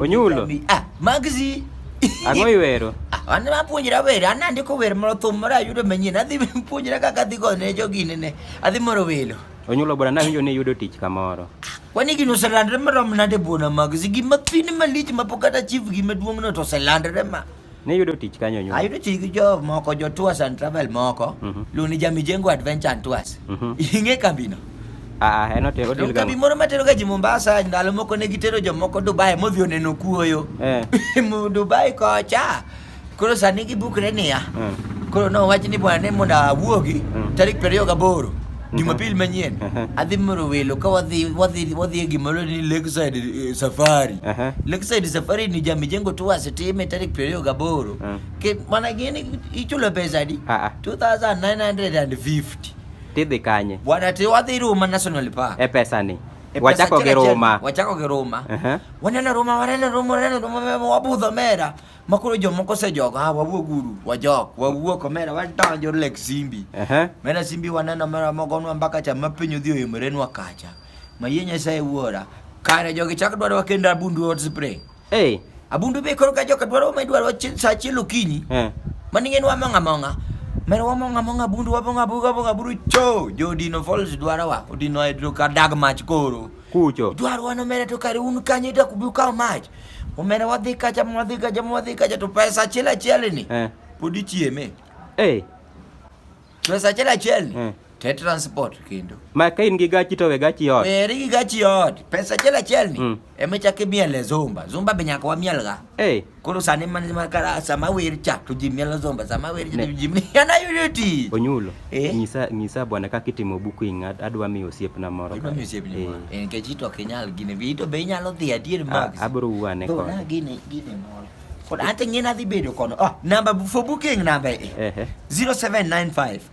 Onyulo. Ah, magzi. Ang'o iwero? Ah, an apuonjra wer, an andiko wer moro thum moro ayudo manyien. Adhi puonjra kaka adhi go ne jogine ne. Adhi moro welo. Onyulo bwana nawinjo ni yudo tich kamoro. Ah, kwani gino oselandre marom nade bwana magzi? Gima thin malich mapok kata chief gima duong'no to oselandre ma. Ne yudo tich kanyo nyoro. Ayudo tich gi jo moko jo tours and travel moko. Mm -hmm. Luni ja Mijengo Adventure and Tours. Mm -hmm. Ing'e kambi no? Ah, ah, en otero deal kambi moro matero ga ji Mombasa ndalo moko ne gitero jomoko Dubai modhi oneno kuoyo. Eh. Dubai kocha. Koro sani gibukre niya. Mm. Koro nowach ni bwana ne mondo awuogi mm. tarik 28. Jumapili manyien adhi moro welo ka wadhi wadhi wadhi e gima iluongo ni Lakeside eh, Safari. Aha. Lakeside Safari ni ja Mijengo Tours time tarik 28. Mm. Ke mana gini ichulo pesa adi? Ah, ah. 2950. Tidhi kanye? Bwana te wadhi Roma National Park. E pesani. E pesa Wachako gi achiel achiel, Roma. Wachako gi Roma. Aha. Waneno Roma, waneno Roma, waneno Roma, wabudho mera. ma koro jomoko osejogo ah, wawuog uru wajok wawuok omera wadonjo lek simbi Ehe. mera simbi waneno mera mogonwa mbaka cha ma piny odhi oimrenwa kacha mayie nyasaye wuora kare jogi chak dwarowa kendo abundu hot spray Hey. abundu be koro ka joka dwaro ma idwaro chi- sa achiel okinyi Eh. maning'en wamong'a among'a mera wamong'a among'a abundu wabong'a abuga abong'a aburu cho jodino falls dwarowa odino hydro ka dag mach koro kucho dwaro wan omera to kare un kanyo ita kubi ukawo mach omera wadhi kacha mwadhi kacha mwadhi kacha to pesa achiel achiel ni eh. pod ichieme hey. Eh. pesa achiel achiel ni eh. te transport kendo ma ka in gi gachi to we gachi ot eri gi gachi ot pesa achiel achiel ni mm. ema chake miel zumba zumba be nyaka wamiel ga hey. Eh. Koro sani man ma kara sama wer cha to ji mielo zomba sama wer cha to ji miana yudo ti. Onyulo. Eh? Nyisa nyisa bwana kaka itimo buku ing'ad adwa miyo osiepna moro. Adwa miyo osiepna moro. Eh. En keji to kinyal gine bi to be inyalo dhi adier Max. Abro wuane kod. Na gine gine moro. Kod ante ng'ina dhi bedo kono. Ah, namba for booking namba e. Eh. 0795